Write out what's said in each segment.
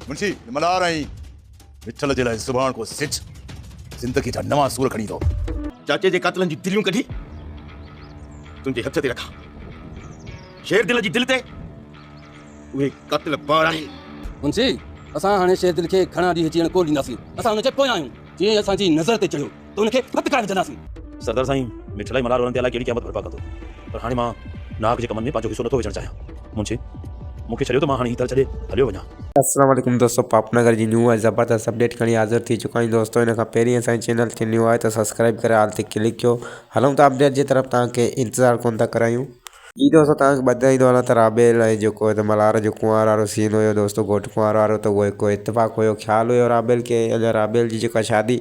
منشي ملهار ۽ وٺل جي لاء سڀاڻڪو سج زندگي جا نوان سور کڻي ايندو. چاچي جي قاتلن جون دليون ڪڍي تنهنجي هٿ تي رکان. شير دل جي دل تي اهي قاتل بار آهن. منشي اسان هاڻي شير دل کي گهڻا ڏينهن جيئڻ ڪونه ڏينداسين. اسان هن جي پويان آهيون. جيئن اسان جي نظر تي چڙهيو. ته ان کي ڀت ڪرائي وجهنداسين. سردار سائين، مٺ الائي ملهار ورن تي الائي ڪهڙي قيامت برپا ڪندو، پر هاڻي مان ناحق جي ڪمن ۾ پنهنجو حصو نٿو وجهڻ چاهيان. منشي، مون کي ڇڏيو ته مان هاڻي هي ٿر ڇڏي هليو وڃان. السلام عليڪم دوستو پاپ نگر جي نيو ۽ زبردست اپڊيٽ کڻي حاضر ٿي چڪا آهيون دوستو ان کان پهرين اسان جي چينل کي نيو آهي ته سبسڪرائيب ڪري آل تي ڪلڪ ڪيو هلون ٿا اپڊيٽ جي طرف توهان کي انتظار ڪونه ٿا ڪرايون. جي دوستو توهان کي ٻڌائيندو هلان ته رابيل ۽ جيڪو هن ملهار جو ڪنوار وارو سين هيو دوستو گهوٽ ڪنوار وارو ته اهو هڪ اتفاق هيو خيال هيو رابيل کي اڃان رابيل جي جيڪا شادي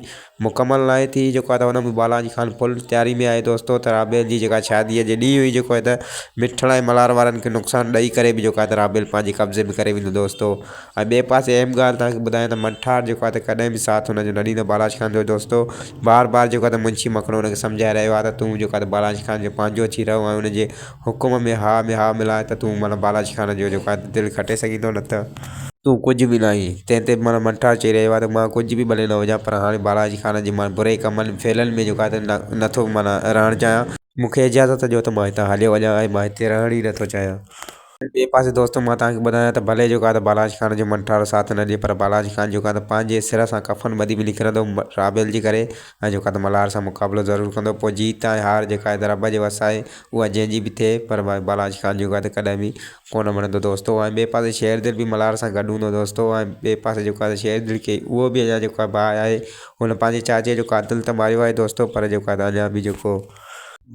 مڪمل ناهي ٿي جيڪو آهي ته هن ۾ بالاجي خان فل تياري ۾ آهي دوستو ته رابيل جي جيڪا شادي جي ڏينهن هئي جيڪو آهي ته مٺڙا ۽ ملهار وارن کي نقصان ڏئي ڪري به جيڪو آهي ته رابيل پنهنجي قبضي ۾ ڪري ويندو دوستو ۽ ٻئي پاسي اهم ڳالهه توهان کي ٻڌايان ته منٺار جيڪو آهي ته ڪڏهن به ساٿ هن جو نه ڏيندو بالاچ خان جو دوستو بار بار جيڪو آهي ته منشي مکڻو هن کي سمجهائي رهيو آهي ته تون جيڪو آهي ته بالاچ خان جو پنهنجو ٿي رهو ۽ ان جي حڪم ۾ ها ۾ ها ملائي ته تون معنيٰ بالاچ خان جو جيڪو آهي ته دل کٽي سگهيندو نه ته تون ڪجهه به ناهين تنهن تي معنيٰ منٺار چئي رهيو آهي ته مان ڪجهه به ڀلي نه هجان پر هاڻي بالاچ خان جي معنيٰ بري ڪمن فعلن ۾ جيڪو آهي ته نه نه ٿو معنيٰ رهڻ چاهيان. مون کي اجازت ڏيو ته مان هتان هليو وڃان ۽ مان هتي رهڻ ئي نه ٿو چاهيان. ٻئي پاسي دوستو مان توهان کي ٻڌايان ته ڀلي جيڪو آهي ته بالاچ خان جو منٺارو ساٿ نه ڏئي پر بالاچ خان جيڪو آهي ته پنهنجي سر سان ڪفن ٻڌي به نڪرندو رابيل جي ڪري ۽ جيڪو آهي ته ملهار سان مقابلو ضرور ڪندو پوء جيت ۽ هار جيڪا آهي ته رب جي وس آهي اها جنهن جي به ٿئي پر ڀائي بالاچ خان جيڪو آهي ته ڪڏهن به ڪونه مڙندو دوستو ۽ ٻئي پاسي شير دل به ملهار سان گڏ هوندو دوستو ۽ ٻئي پاسي جيڪو آهي ته شير دل کي اهو به اڃان جيڪو آهي باهه آهي هن پنهنجي چاچي جو قاتل ته ماريو آهي دوستو پر جيڪو آهي ته اڃان به جيڪو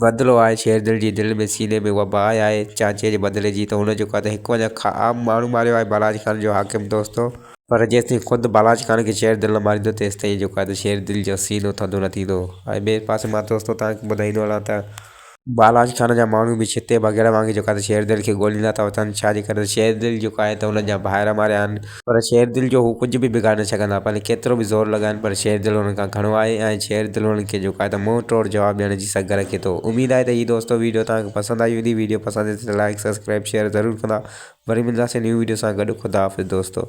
بدلو آهي شيردل جي دل ۾ سيني ۾ اها باهه آهي چانچي جي بدلي جي ته هن جيڪو آهي ته هڪ وڃان کان عام ماڻهو ماريو آهي بالاچ خان جو حاڪم دوستو، پر جيستائين خود بالاچ خان کي شيردل نه ماريندو تيستائين جيڪو آهي ته شيردل جو سينو ٿڌو نه ٿيندو ۽ ٻئي پاسي مان دوستو توهان کي ٻڌائيندو هلان ته، بالاچ خان جا ماڻهو به ڇتي بگهڙ وانگي جيڪو آهي ته شيردل کي ڳوليندا ٿا وتن ڇا جي ڪري ته شيردل جيڪو آهي ته هنن جا ڀائر ماريا آهن. پر شير دل جو هو ڪجهه به بگاڙي نه سگهندا، ڀلي ڪيترو به زور لڳائين، پر شير دل انهن کان گهڻو آهي ۽ شير دل انهن کي جهڪائي ته منهن ٽوڙ جواب ڏيڻ جي سگهه رکي ٿو. اميد آهي ته هي دوستو ويڊيو توهان کي پسند آئي هوندي، ويڊيو پسند اچي ته لائيڪ، سبسڪرائيب، شيئر ضرور ڪندا. وري ملنداسين نيون ويڊيو سان گڏ خداحافظ دوستو.